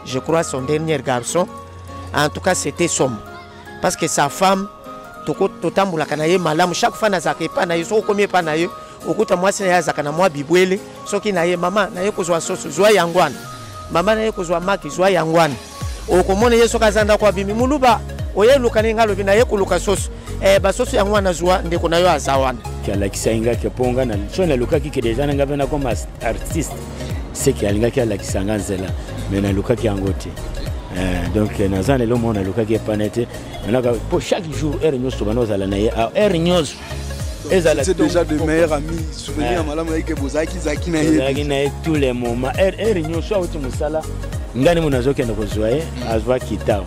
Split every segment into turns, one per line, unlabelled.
Je crois son dernier garçon. En tout cas, c'était son. Parce que sa femme, totambolaka na ye malamu chaque fois nazalaka epai na ye soki okomi epai na ye okuta mwasi na ye azalaka na mwa bibwele soki na ye mama na ye kozwa soso zwa yango wana mama na ye kozwa maki zwa yango wana okomona ye soki aza ndako abimi moluba oye eluka ndenge alobi na ye koluka soso eh, basoso yango wana zwa ndeko na yo aza wana alakisaki nga ke
mpo nga na nalukaki ke deja na nga mpe nakoma artiste seke alingaki alakisa nga nzela me nalukaki yango te eh, donc naza na eloko moko nalukaki epana te manaka mpo chaque jour heure nyonso bana ozala na ye ah, heure nyonso ezala
déjà de meilleur ami souvenir ya eh. malamu yayike bozalaki zaki na ye ezalaki na ye tous les moments
heure nyonso auti mosala ngai nde mo nazokende kozwa ye azwa kitao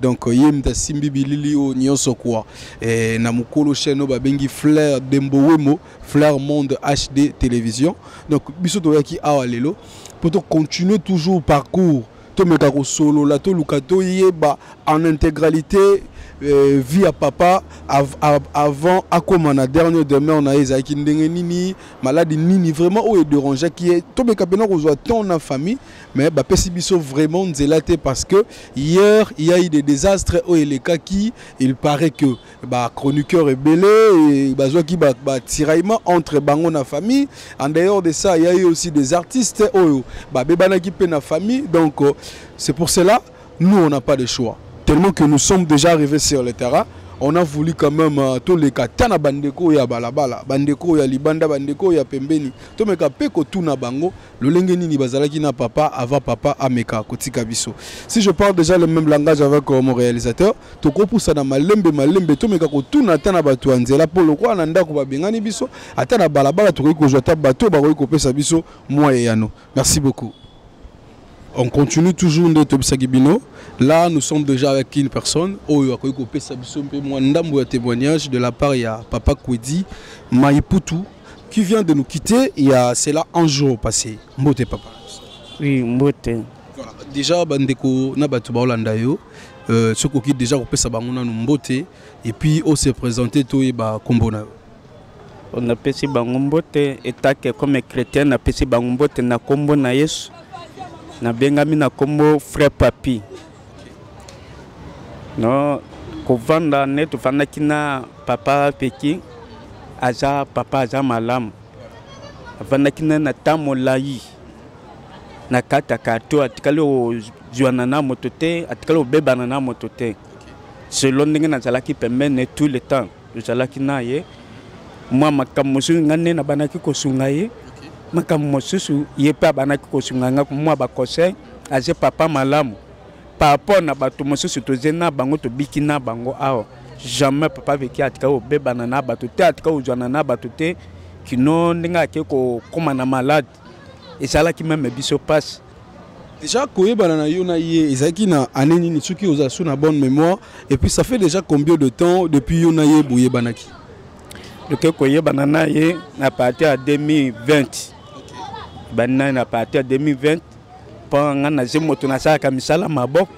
donc euh, ye moto asimbi bilili oyo nyonso kua e, na mokolo chaine oyo babengi flair dembowemo flair monde hd télévision donc biso toyaki awa lelo mpo tocontinue toujours parcours tomeka kosolola toluka toyeba en intégralité euh, vie ya papa av, av, avant akoma na dernier demeure na ye ezalaki ndenge nini maladi nini vraiment oyo ederangeaki ye tomeka mpena kozwa temps na famille mais bapesi biso vraiment nzela te parce que hier il y a eu des désastres oyo elekaki il paraît que bachroniqueur ebele bazwaki batiraillement entre bango na famille en dehors de ça il y a eu aussi des artistes oyo babebanaki mpe na famille donc euh, c'est pour cela nous on n'a pas de choix tellement que nous sommes déjà arrivés sur le terrain on a voulu quand même euh, toleka ata na bandeko ya balabala bandeko ya libanda bandeko ya pembeni tomeka mpe kotuna bango lolenge nini bazalaki na papa avant papa ameka kotika biso si je parle déjà le même langage avec euh, mon réalisateur tokopusana malembe malembe tomeka kotuna ata na bato ya nzela mpo lokola na ndako babengani biso ata na balabala tokoki kozwa ata bato oyo bakoki kopesa biso mwa eyano merci beaucoup on continue toujours nde tobisaki bino là nous sommes déjà avec une personne oyo akoki kopesa biso mpe mwa ndambo ya témoignage de la part ya papa kwedi maiputu qui vient de nous quitter il y a cela un jour passé mbote papa oui
mbote voilà. déjà
bandeko na bato baolanda yo euh, soki okoki déjà kopesa bango nanu mbote et puis ose présente toyeba nkombo na yo
napesi bango mbote etake comme chrétien napesi bango mbote na nkombo na yesu nabengami na nkombo frère papi no kovanda nde tofandaki na papa peki aza papa aza malamu afandaki na na temps molai na kati ya karto atikali kozwana na moto te atikali kobebana na moto te selo ndenge nazalaki pembene tout le temps tozalaki na ye mwa makambo mosusu ngai nde nabanaki kosunga ye makambo mosusu ye mpe abanaki kosunga ngai mwa baconseil aze papa malamu par rapport na bato mosusu toze na bango tobiki na bango awa jamais papa veki atika kobebana na bato te atika kozwana na bato te kino ndenge ake kokóma na malade ezalaki meme biso mpasi déjà
koyebana na yo na ye ezalaki na année nini soki oza sur na bonne mémoire et puis ça fait déjà combien de temps depuis yo na ye boyebanaki toke
koyebana na ye na parti ya 2020 bani na ye na parti ya 2020 mpo ngai nazi moto nasalaka misala maboko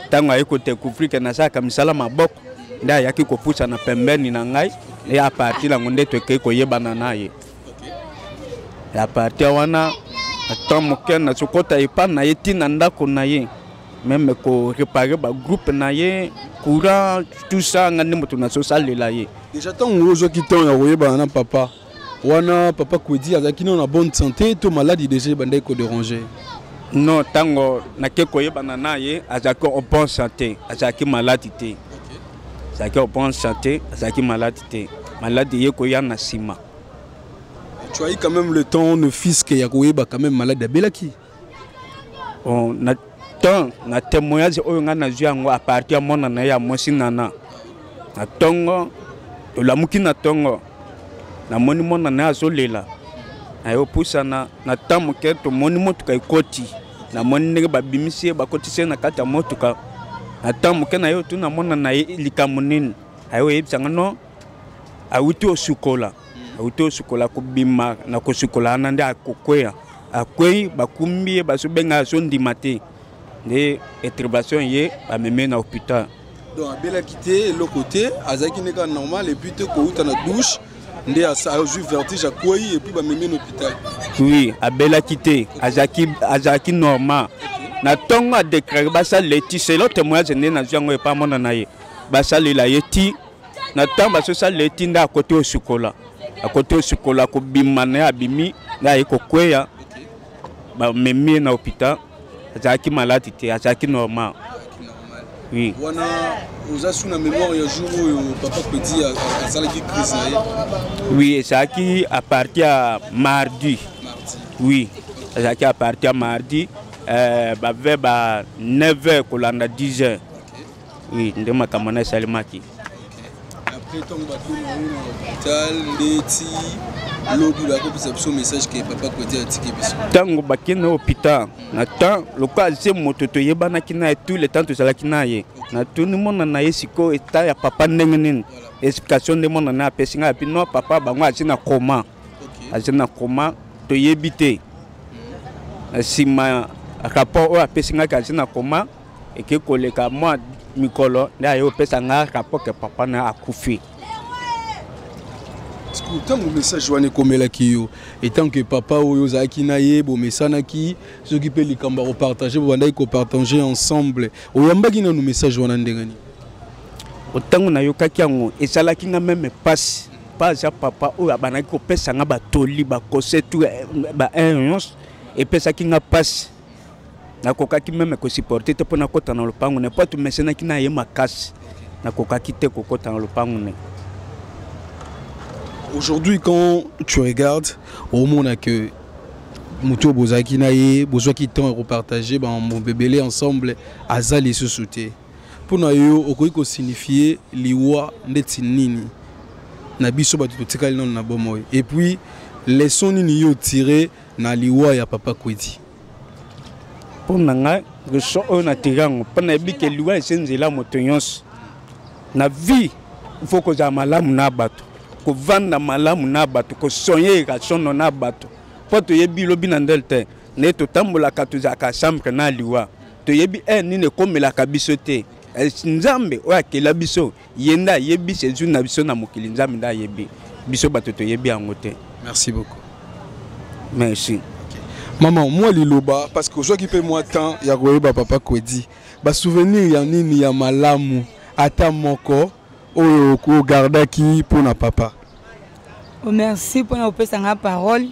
ntango aye kodecouvrir ke nasalaka misala maboko nde ayaki kopusana pembeni na ngai e apartir yango nde tokei koyebana na ye ya parti wana ata moke nazokota epa na ye ti na ndako na ye meme korepare bagroupe na ye courant tout ça nga nde moto nazosalela ye deja ntango ozwaki
temps ya koyebana na papa wana papa kwedi azalaki nano na bonne santé to maladi deja ebandaki koderange non
ntango nake koyebana na ye azalaki en bonne santé azalaki maladi te azalaki en bonne santé azalaki maladi te maladi ye koya na nsima
Tu as eu quand même le temps ne fils que ya koyeba quand même malade abelaki.
On na temps na témoignage oyo nga na zui yango à partir ya mwana na ye ya mwasi nana na tongo tolamuki na tongo namoni mwana na ye azolela naye opusana na temps moke tomoni motuka ekoti namoni ndenge babimisi ye bakotisi ye na kati ya motuka na temps moke na ye otuna mwana na ye likambo nini aye oyebisa nga non awuti osukola awuti osukola kobima na kosukola wana nde akokweya akwei bakumbi ye bazobenga azondima te nde intervention ye bameme na hôpital donc abelaki
te eloko te azalaki nde kaka normal epuis te kowuta na douche nde azwi vertige akwei epuis bamemi na hôpital oui abelaki
te azalaki normal na ntongo adekrake basalela ye ti selo témoignage nde nazwi yango epa mona na ye basalela ye ti na ntango basosalela etinda akoti osukola akoti osukola akobima na ye abimi nde aye kokweya bamemi ye na hôpital azalaki maladi te azalaki normal oui. wana
oza su na mémoire ya jour oyo papa pedi asalaki crise na ye oui
ezalaki à partir ya mardi oui ezalaki à partir ya mardi euh, bave ba 9 heures kolanda 10 heures oui nde makambo na esalemaki après ntango batuni yango na hopital ndeti lobi bakopesa biso message ke papa koti atiki biso ntango bakei na hopital na temps lokola aze moto toyebanaki na ye tout le temps tozalaki na ye natuni mona na ye sikoyo eta ya papa ndenge nini explication nde mona na ye apesi ngai api no papa bango aze na coma aze na coma toyebi te nsima rapport oyo apesi ngai kazi na koma eke koleka mwa mikolo nde aye opesa nga rapport ke papa na akufi
ntango message wana ekomelaki yo etant que papa oyo ozalaki na ye bomesanaki soki mpe likambo ya kopartage bobandaki kopartage ensemble oyambaki nanu message wana ndenge nini
ntango nayokaki yango esalaki nga meme mpasi mpa aza papa oyo abandaki kopesa nga batoli bakose tu eh, ba eh, nyonso epesaki nga mpasi nakokaki meme kosupporte te mpo nakota na lopango ne mpo atumesenaki na ye makasi nakokaki te kokota na lopango ne
aujourd'hui quand tu regardes omona que moto oyo bozalaki na ye bozwaki temps ya kopartage bamambo ebele ensemble aza lisusu te mpo na yo okoki kosignifie liwa ndeti nini na biso bato totikali nano na bomoi epuis leson nini yo otire na liwa ya papa kwedi
mpo na ngai question oyo natiki yango mpo nayebi ke liwa ese nzela moto nyonso na vie ifo kozala malamu na bato kovanda malamu na bato kosonye ekasono na bato mpo toyebi lobi na ndele te naye totambolaka tozalaka chambre na liwa toyebi heure nini ekomelaka biso te eh, nzambe oyo akela biso ye nde ayebi sejour na biso na mokili nzambe nde ayebi biso bato toyebi yango te merci beaucoup merci
mama mwa liloba parce que ozwaki mpe mwa temps ya koyeba papa kwedi basouvenir ya nini ya malamu ata moko oyo ogardaki mpo na papa
merci mpo na kopesa ngai parole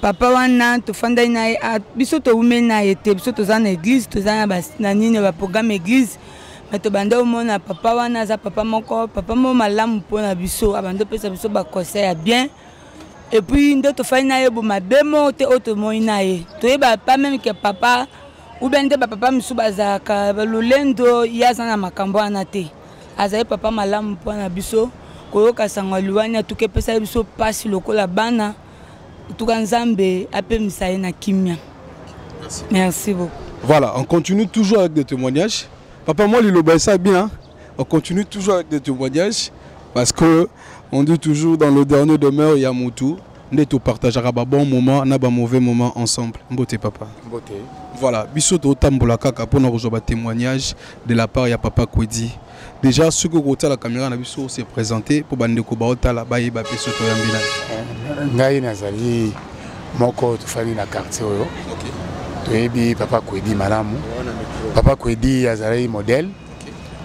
papa wana tofandaki na ye ah, biso towumeli na ye te biso toza na église toza na nini baprogramme église me tobanda omona papa wana aza papa moko papa moko malamu mpo na biso abanda opesa biso baconseil ya bien epuis nde tofai na ye bomabe moko te oyo tomoni na ye toyeba pa meme ke papa oubien nde bapapa mosusu bazalaka lolendo ye aza na makambo wana te azali papa malamu mpo na biso koyoka sango ya liwani atuki epesaki biso mpasi lokola bana tuka nzambe apemisa ye na kimia merci, merci beaucoup voilà on continue
toujours avec des témoignages papa moi liloba ça bien on continue toujours avec des témoignages parce que on dit toujours dans le dernier demeure ya mutu nde topartageaka babon moment na bamauvais moment ensemble mbote papa mbote voilà biso totambola kaka mpona kozwa batémoignage de la part ya papa kwedi Déjà soki okotala kamera na biso se présenter mpo bandeko baotala bayeba
mpe soki
toyambi na eh, ngai
nazali
moko
tofandi na quartier oyo toyebi papa kwedi malamu papa kwedi azalaki modèle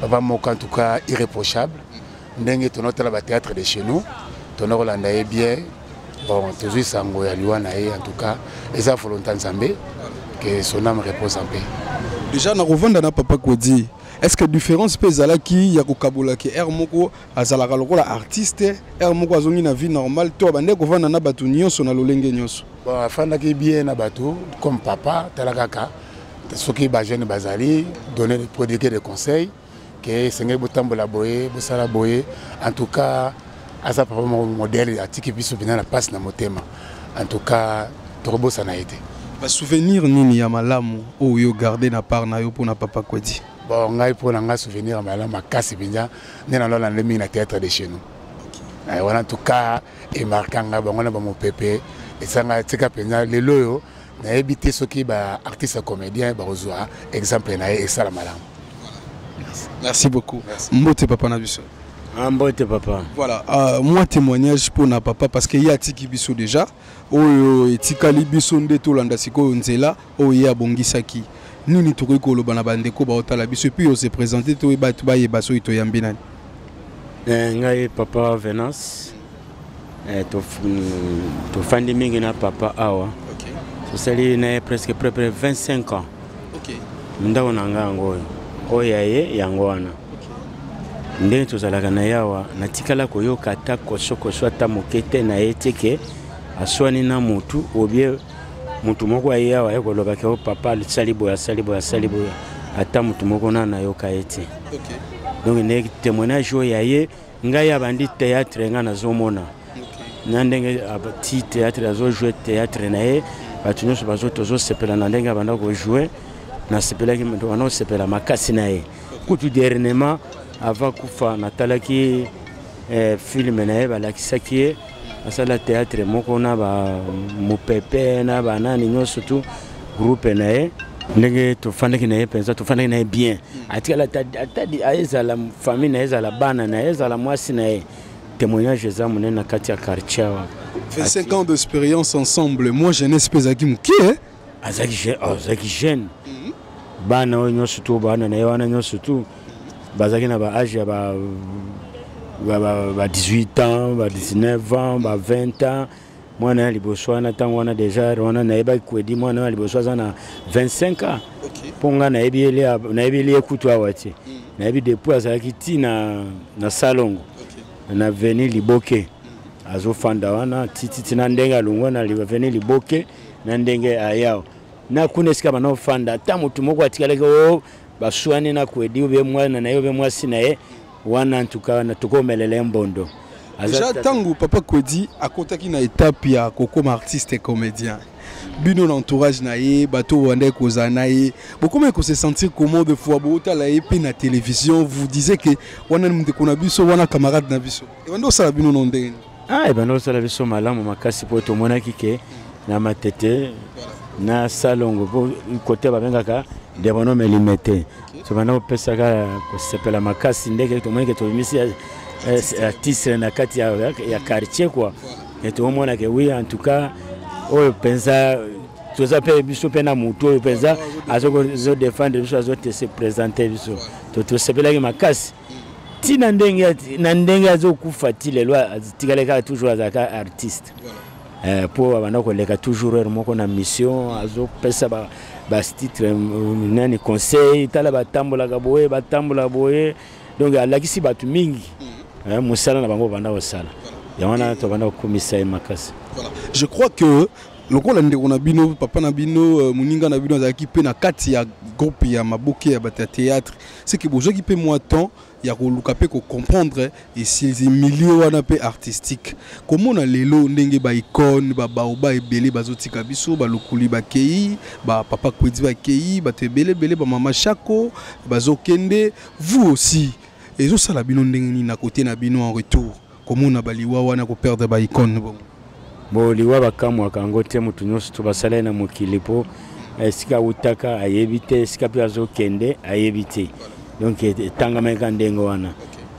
papa moko en tout cas irréprochable ndenge tonotala bathéâtre de chez nous tonokolanda ye bien bon tozwi sango ya liwa na ye en tout cas eza volonta nzambe que son âme repose en paix déjà nakovanda
na papa kwedi Est-ce que différence pe zalaki ya kokabola ke air moko azalaka lokola artiste air moko azongi na vie normale to abandaki kovanda na bato nyonso na lolenge nyonso bon, afandaki bien
na bato comme papa tala kaka soki bajeune bazali donner de prodiguer de conseil ke esengeli botambola boye bosala boye en tout cas aza papa moko modèle atiki biso bina na passe na motema en tout cas tokobosana ye te basouvenir
nini ya malamu oyo yo garde na part na yo mpo na papa kwedi bon ngai mpo na
ngai souvenir ya malamu makasi mpenza nde nalona nde mingi na théâtre de chez nous eh, wana en tout cas emarka ngai bango na bamopepe esanga tika mpenza lelo oyo nayebi te soki ba artiste comédien bakozwa exemple na ye esala malamu
merci beaucoup mbote papa na biso ah, mbote papa
voilà uh, moi
témoignage mpo na papa parce que ye atiki biso déjà oyo etikali biso nde tolanda sikoyo nzela oyo ye abongisaki nini tokoki koloba na bandeko baotala biso epuis ose présente to bato bayeba soki toyambi nani eh,
ngai papa venance Eh, tofandi mingi na papa awa tosali na ye presque prepre 25 ans ndako na ngai yango oyo oyo ya ye yango wana ndenge tozalaka na ye awa natikala koyoka ata kosokoso ata moke te na ye teke aswani na motu obie motu moko aye awa ye koloba ke o oh, papa asali boye asali boye asali boye ata motu moko na nayoka ye te donc nde témoignage oyo ya ye ngai abandi théâtre ngai nazomona na ndenge ti théâtre azojoue théâtre na ye bato nyonso bazo tozosepela na ndenge abanda kojoue nasepelaki banda kosepela makasi na ye kutu dernièrement ava kufa natalaki eh, filme na ye balakisaki ye asala théâtre moko na ba mupepe na ba nani nyonso tout groupe na ye ndenge tofandaki na ye mpenza tofandaki na ye bien atikala ezala famille na ye ezala bana na ye ezala mwasi na ye témoignage eza monene na kati ya quartier awa 25 ans
d'expérience ensemble moi jeunesse mpe ezalaki moke azalaki oh,
azalaki jeune mhm. bana oyo nyonso tu bana na ye wana nyonso tu bazalaki na baage ya ba 18 ans ba 19 ans ba 20 ans mwana ya liboso wana ntango wana deja wana nayebaki kwedi mwana ya liboso aza na 25 ans mpo ngai nayebeli ye kutu awa te mhm. nayebi depuis azalaki ti na, na salongo na veni liboke mhm. azofanda wana tititi na ndenge alongwa na veni liboke na ndenge ayao na kuna esika bana ofanda ata motu moko atikalaki o oh, baswani na kwedi obe mwana na ye obe mwasi na ye wana ntuka na tokomelela ye mbondo deja ntango
papa kwedi akotaki na etape ya kokoma artiste comédien bino na entourage na ye bato oyo bandaki kozala na ye bokomaki kose sentir comment de fois bootala ye mpe na télévision vous disait ke wana ndeko na biso wana camarade na biso ebandi osala bino no ndenge ah ebanda kosala
biso malamu makasi mpo tomonaki ke na matete na salongo mpo kote babengaka debono melime te tobanda kopesaka kosepela makasi ndeke tomoni ke tobimisi artiste na kati ya, ya, ya quartier kua tokomona ke wi en tout cas oyo mpenza toza mpe biso mpe na motu oyo mpenza azodefendre biso azotese présente biso tosepelaki makasi ti na ndenge na ndenge azokufa ti lelo atikali kaka toujours azalaka artiste mpo eh, abanda koleka toujours heure moko na mission azopesa ba bastitre euh, nani conseil tala batambolaka boye batambola boye donc alakisi bato mingi mm. eh, mosala na bango banda kosala yango wana tobanda kokumisa ye makasi je crois que
lokola ndeko na bino papa na bino euh, moninga na bino azalaki mpe na kati ya groupe ya maboke ya bato ya théâtre c'est que bozwaki mpe mwa temps ya koluka mpe kocomprendre esilzi milieu wana mpe artistique komona lelo ndenge baicone babaoba ebele bazotika biso balukuli bakei bapapa kwedi bakei bato ebele ebele bamama shako bazokende vous aussi ezosala bino ndenge nini na kote na bino en retour komona ba liwa wana ko perdre ba icone bongo bo
liwa bakamwaka yango te moto nyonso to basala ye na mokili mpo esika awutaka ayebi te esika mpe azokende ayebi te donc etangamaka ndenge wana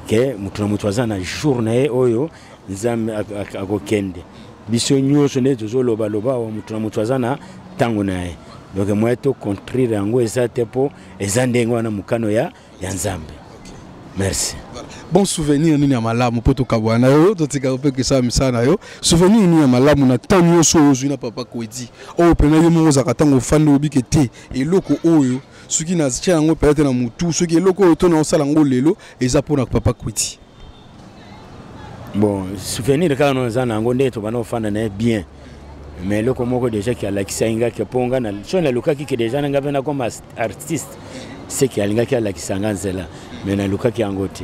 ke moto na moto aza na jour na ye oyo nzambe akokende biso nyonso nde tozolobaloba awa moto na moto aza na ntango na ye donc moye tocontrire yango eza te mpo eza ndenge wana mokano ya ya nzambe merci bon
souvenir nini ya malamu mpo tokabwana na yo totika mpe kesala misala na yo souvenir nini ya malamu na ntango nyonso oyo ozwi na papa kwedi oyo mpena yo moko ozalaka ntango ofandi obike te eloko oyo soki natya yango mpenza te na motu soki eloko oyo to naosala yango lelo eza mpo na papa kwedi bon
souvenir kaka no eza na yango nde tobanda kofanda na ye bien mais eloko moko déjà ki alakisaki nga ke mpo nga so nalukaki ke déjà na nga mpe nakoma artiste seke alingaki alakisa nga nzela mais nalukaki yango te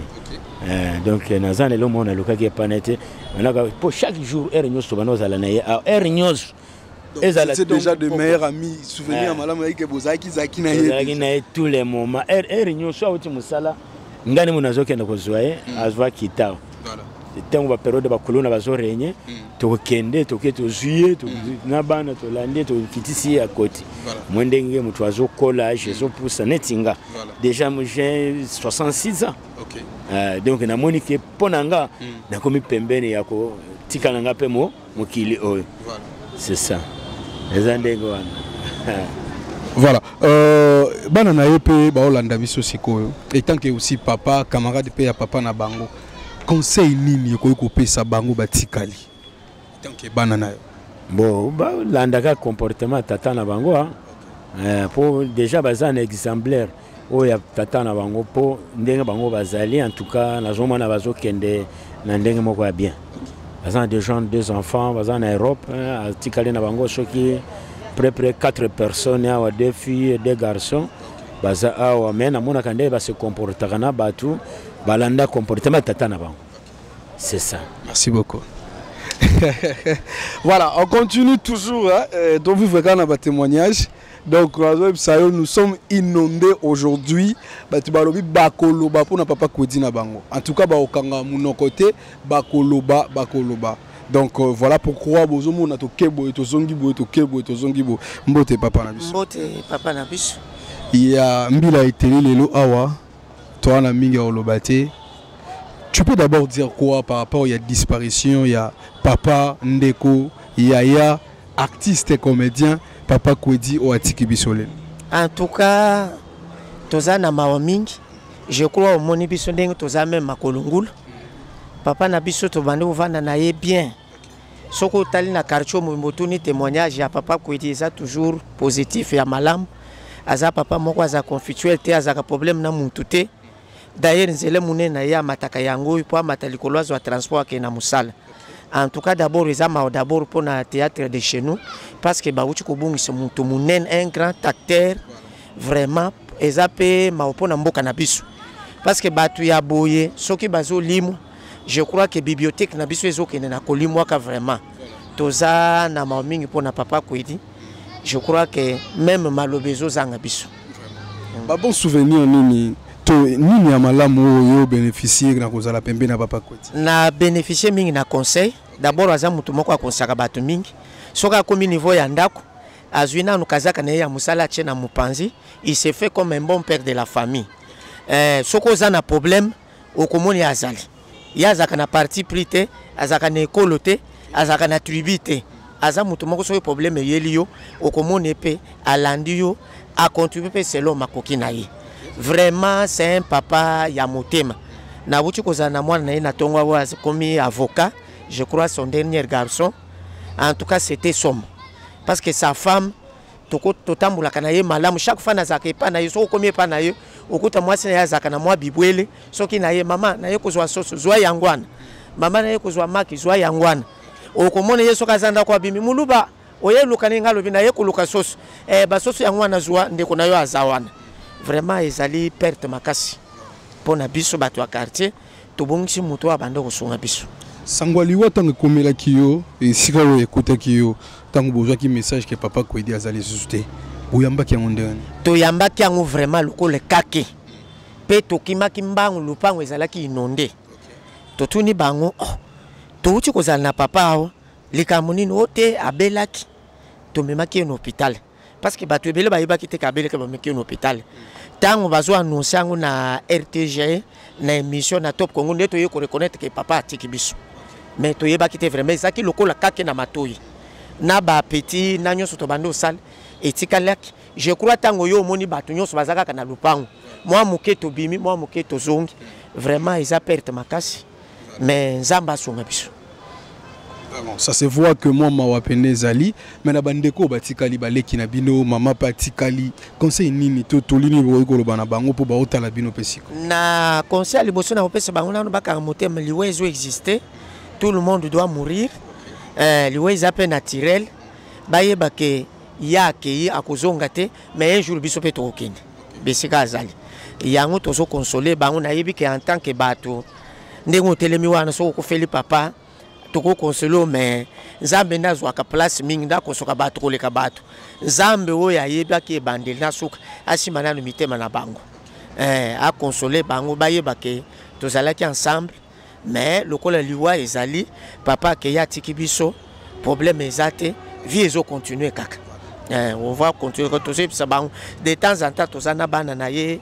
eh, donc eh, naza na elo moko nalukaki epana te manaka mpo chaque jour heure nyonso tobanda ozala na ye ah, heure nyonso ezala
déjà de meilleur ami souvenir eh. malamu yaki ke bozalaki zaki na ye tous les
moments heure nyonso auti mosala ngai nemo nazokende kozwa ye hmm. azwa kitao ntango baperiode bakolona bazorenye hmm. tokokende toke tozwi ye hmm. na bana tolandi ye tokitisi ye akoti mwe ndenge moto azokola age ezopusa neti nga déjà j'ai 66 ans euh, donc namoni ke mpo na nga nakomi pembeni ya kotika na nga mpe mo mokili oyo c'est ça eza ndenge wana voilà
euh, bana na ye mpe baolanda biso sikoyo etant que aussi papa camarade mpe ya papa na bango conseil nini ekoki kopesa bango batikali etant que bana na yo bon
balandaka comportement tata na bango mpo eh, déjà baza na exemplaire oyo ya tata na bango mpo ndenge bango bazali en tout cas nazomona bazokende na ndenge moko ya bien baza na déjà deux enfants baza na europe hein, atikali na bango soki près près quatre personnes awa deux filles et deux garçons baza awa mais namonaka ndenge base comportaka na bato balanda comportement tata na bango c'est ça merci beaucoup
voilà on continue toujours hein, euh, donc vivre kaka na batémoignage donc nazoyebisa yo nous sommes inondés aujourd'hui bato balobi bakoloba mpo na papa kwedi na bango en tout cas bakokanga monoko te bakoloba bakoloba donc euh, voilà pourquoi bozomona toke boye tozongi boye toke boye tozongi boye mbote papa na biso mbote papa na
biso ya
mbila eteli lelo awa toa na mingi ya koloba te tu peux d'abord dire quoi par rapport ya disparition ya papa ndeko yaya artiste comedien papa kwedi oyo atiki biso lelo en tout cas
toza na mawa mingi je crois omoni biso ndenge toza meme makolo ngulu papa na biso tobandi kovanda na ye bien soki otali na quartier mobimbo otuni témoignage ya papa kwedi eza toujours positif ya malamu aza papa moko aza confituel te azalaka problème na mutu te D'ailleurs, nzela munene na ye amataka yango oyo mpo amata likolo azwa transport akende na mosala. En tout cas, d'abord eza mawa d'abord mpo na théâtre de chez nous parce que bauti kobungisa moto munene un grand acteur vraiment eza mpe mawa mpo na mboka na biso parce que bato ya boye soki bazolimwa je crois que bibliothèque na biso ezokende na kolimwaka vraiment toza na mawa mingi mpo na papa kwedi je crois que meme maloba ezozanga biso ba bon
souvenir nini to nini ya malamu oyo beneficier na kozala pembe na papa kweti na beneficier
mingi na conseil d'abord aza moto moko akonsaka bato mingi soki akomi niveau ya ndako azwi nanu kazaka na ye ya mosala atie na mopanzi il se fait comme un bon père de la famille eh, soki oza na problème okomona ye azali ye azalaka na parti pris te azalaka na ekolo te azalaka na tribu te aza moto moko soki problème eyeli yo okomona ye mpe alandi yo acontribue mpe selon makoki na ye vraiment c'est un papa ya motema nabuti kozala na mwana na ye na ntongo oyo akomi avocat je crois son dernier garçon en tout cas c'était somo parce que sa femme toko totambolaka na ye malamu chaque fois nazalaka epa na ye soki okomi epa na ye okuta mwasi na ye azalaka na mwa bibwele soki na ye mama na ye kozwa soso zwa yango wana mama na ye kozwa maki zwa yango wana okomona ye soki aza ndako abimi muluba oye luka ndenge alobi na ye koluka soso eh, basoso yango wana zwa ndeko na yo aza wana vraiment ezali perte makasi mpo na biso bato ya quartier tobongisi moto oyo abanda kosunga biso sango aliwa ntango
ekomelaki yo esika oyo ekutaki yo ntango bozwaki message ke papa kwedi aza lisusu te boyambaki yango ndenge nini toyambaki yango
vraiment lokola ekake mpe tokimaki mbangu lopango ezalaki inonde totuni bango oh, touti kozala na papa awa likambo nini o te abelaki tomemaki ye na hôpital parce que bato ebele bayebaki te kabele ke bameki na hôpital ntango bazo annonce yango na rtg na émission na top congo nde toye koreconnaitre ke papa atiki biso mais toyebaki te vraiment ezalaki lokola kake na matoi na bapetit na nyonso tobandi osala etikalaki je crois ntango yo omoni bato nyonso baza kaka na lopango mwa moke tobimi mwa moke tozongi vraiment eza perte makasi mais nzambe asunga biso
ça se voit que moi mawa pene ezali mais na bandeko batikali baleki na bino mama pe atikali conseil nini to toli nini bokoki koloba na bango mpo baotala bino mpe siko na conseil ya
liboso nakopesa bango nano bakanga motema liwa ezo existe tout le monde doit mourir eh, liwa eza mpe naturel bayeba ke ye akei akozonga te mais un jour biso mpe tokokende bisika azali yango tozo console bango nayebi ke en tant que bato ndenge otelemi wana soki okufeli papa tokokonsole o mais nzambe nde azwaka place mingi nde akosoka bato koleka bato nzambe oyo ayebaki ebandeli na suka asima nano mitema na bango eh, akonsole bango bayeba ke tozalaki ensemble mais lokola liwa ezali papa akeya atiki biso problème eza te vie ezo continuer kaka eh, on va continuer tozoyebisa bango de temps en temps toza na bana na ye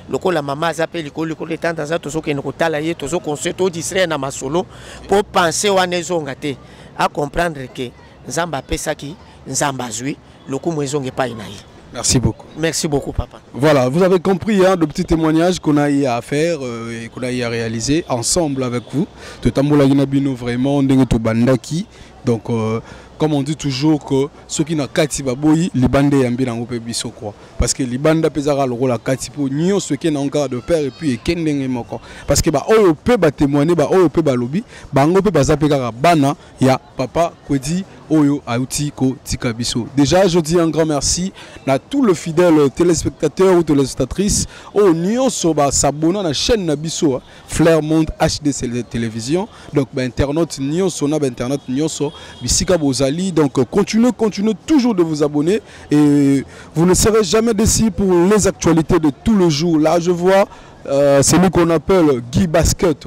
lokola mama aza mpe likolo likolo de temps en temps tozokende kotala ye tozoconstruire todistraire na masolo mpo pense wana ezonga te acomprendre ke Nzambe apesaki, Nzambe azui, lokumu ezonga epai na ye. Merci beaucoup. Merci
beaucoup, papa.
Voilà, vous avez compris
hein, le petit témoignage qu'on a eu à faire euh, et qu'on a eu à réaliser ensemble avec vous. De Tambola Ginabino, vraiment, Ndenge Bandaki. Donc, euh, comme on dit toujours que ceux qui n'ont kati baboyi libanda yambi nango pe biso quoi parce que libanda pezaka lokola kati po nyo ceux qui n'ont de père et puis ekendenge moko parce que ba oyo pe ba témoigner ba oyo pe ba lobi bango pe baza pe kaka bana ya papa kwedi oyo auti kotika biso déjà je dis un grand merci na tout le fidèle téléspectateur ou téléspectatrice oyo nyonso basabona na chaîne na biso flair monde hd télévision donc bainternaute nyonso na bainternaute nyonso bisika bozali donc continuez continuez toujours de vous abonner et vous ne serez jamais déçu pour les actualités de tout le jour là je vois euh, celui qu'on appelle Guy Basket